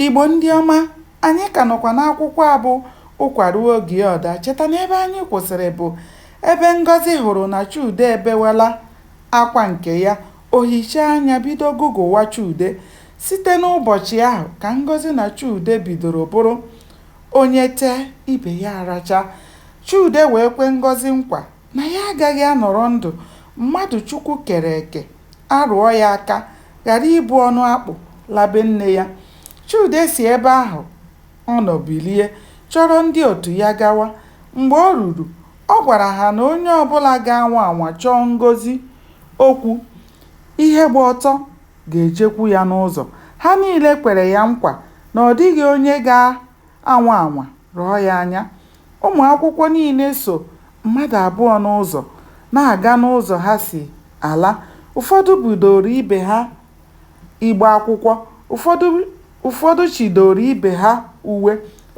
Igbo ndị ọma, anyị ka nọkwa n'akwụkwọ a bụ Ụkwa ruo oge ọ daa. Cheta na ebe anyị kwụsịrị bụ ebe Ngọzi hụrụ na Chude ebewela akwa nke ya. O hichaa anya bido gụgụwa Chude. Site n'ụbọchị ahụ ka Ngọzi na Chude bidoro bụrụ onye tee, ibe ya aracha. Chude wee kwe Ngọzi nkwa na ya agaghị anọrọ ndụ mmadụ Chukwu kere eke arụọ ya aka ghara ibu ọnụ akpụ la be nne ya. Chude si ebe ahụ ọ nọ bilie chọrọ ndị otu ya gawa. Mgbe o ruru, ọ gwara ha na onye ọbụla ga-anwa anwa chọọ Ngọzi okwu, ihe gba ọtọ ga-ejekwu ya n'ụzọ. Ha niile kwere ya nkwa na ọ dịghị onye ga-anwa anwa rọọ ya anya. Ụmụ akwụkwọ niile so mmadụ abụọ n'ụzọ na-aga n'ụzọ ha si ala. Ụfọdụ budooro ibe ha igbe akwụkwọ, ụfọdụ chịdooro ibe ha uwe,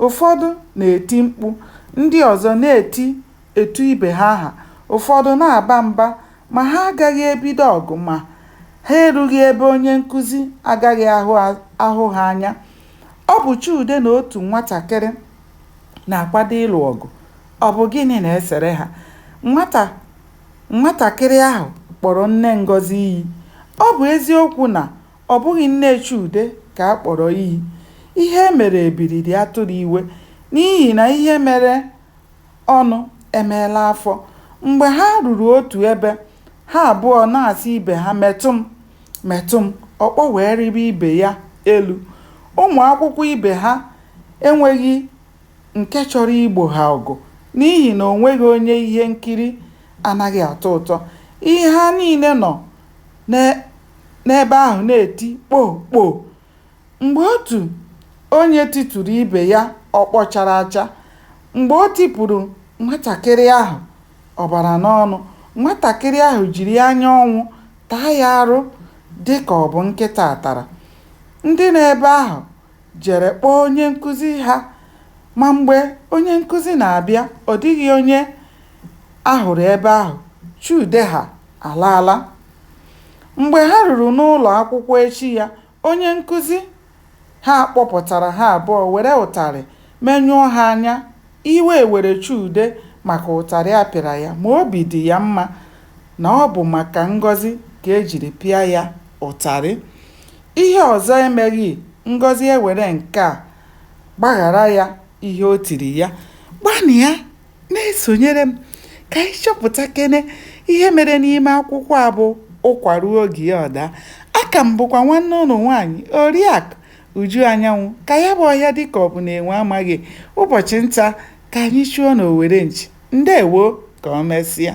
ụfọdụ na-eti mkpu, ndị ọzọ na-eti etu ibe ha aha, ụfọdụ na-aba mba. Ma ha agaghị ebido ọgụ ma ha erughị ebe onye nkụzi agaghị ahụ ha anya. Ọ bụ Chude na otu nwatakịrị. na-akwado ịlụ ọgụ. Ọ bụ gịnị na-esere ha? Nwatakịrị ahụ kpọrọ nne Ngọzi iyi. Ọ bụ eziokwu na ọ bụghị nne Chude ka a kpọrọ iyi. Ihe e mere ebiri dị atụrụ iwe n'ihi na ihe mere ọnụ emeela afọ. Mgbe ha ruru otu ebe, ha abụọ na-asị ibe ha metụ m, metụ m, ọkpọ wee rịba ibe ya elu. Ụmụ akwụkwọ ibe ha enweghị nke chọrọ igbo ha ọgụ n'ihi na o nweghị onye ihe nkiri anaghị atọ ụtọ. Ihe ha niile nọ n'ebe ahụ na-eti kpoo kpoo. Mgbe otu onye tituru ibe ya ọkpọ chara acha, mgbe o tipụrụ nwatakịrị ahụ ọbara n'ọnụ, nwatakịrị ahụ jiri anya ọnwụ taa ya arụ dị ka ọ bụ nkịta tara. Ndị nọ ebe ahụ jere kpọọ onye nkụzi ha ma mgbe onye nkụzi na-abịa ọ dịghị onye a hụrụ ebe ahụ, Chude ha alaala. Mgbe ha ruru n'ụlọ akwụkwọ echi ya, onye nkụzi ha kpọpụtara ha abụọ were ụtarị menyụọ ha anya. Iwe were Chude maka ụtarị a pịara ya ma obi dị ya mma na ọ bụ maka Ngọzi ka e jiri pịa ya ụtarị. Ihe ọzọ emeghị Ngọzi ewere nke a gbaghara ya ihe o tiri ya. Gbanịa na-esonyere m ka anyị chọpụtakene ihe mere n'ime akwụkwọ a bụ Ụkwa Ruo Oge Ya Ọ Daa. Aka m bụkwa nwanne ụnụ nwaanyị, Oriakụ Uju Anyanwụ. Ka ya bụ ọhịa dị ka ọ bụ na enwe amaghị ụbọchị nta, ka anyị chụọ n'owere nchi. Ndewo! Ka o mesịa.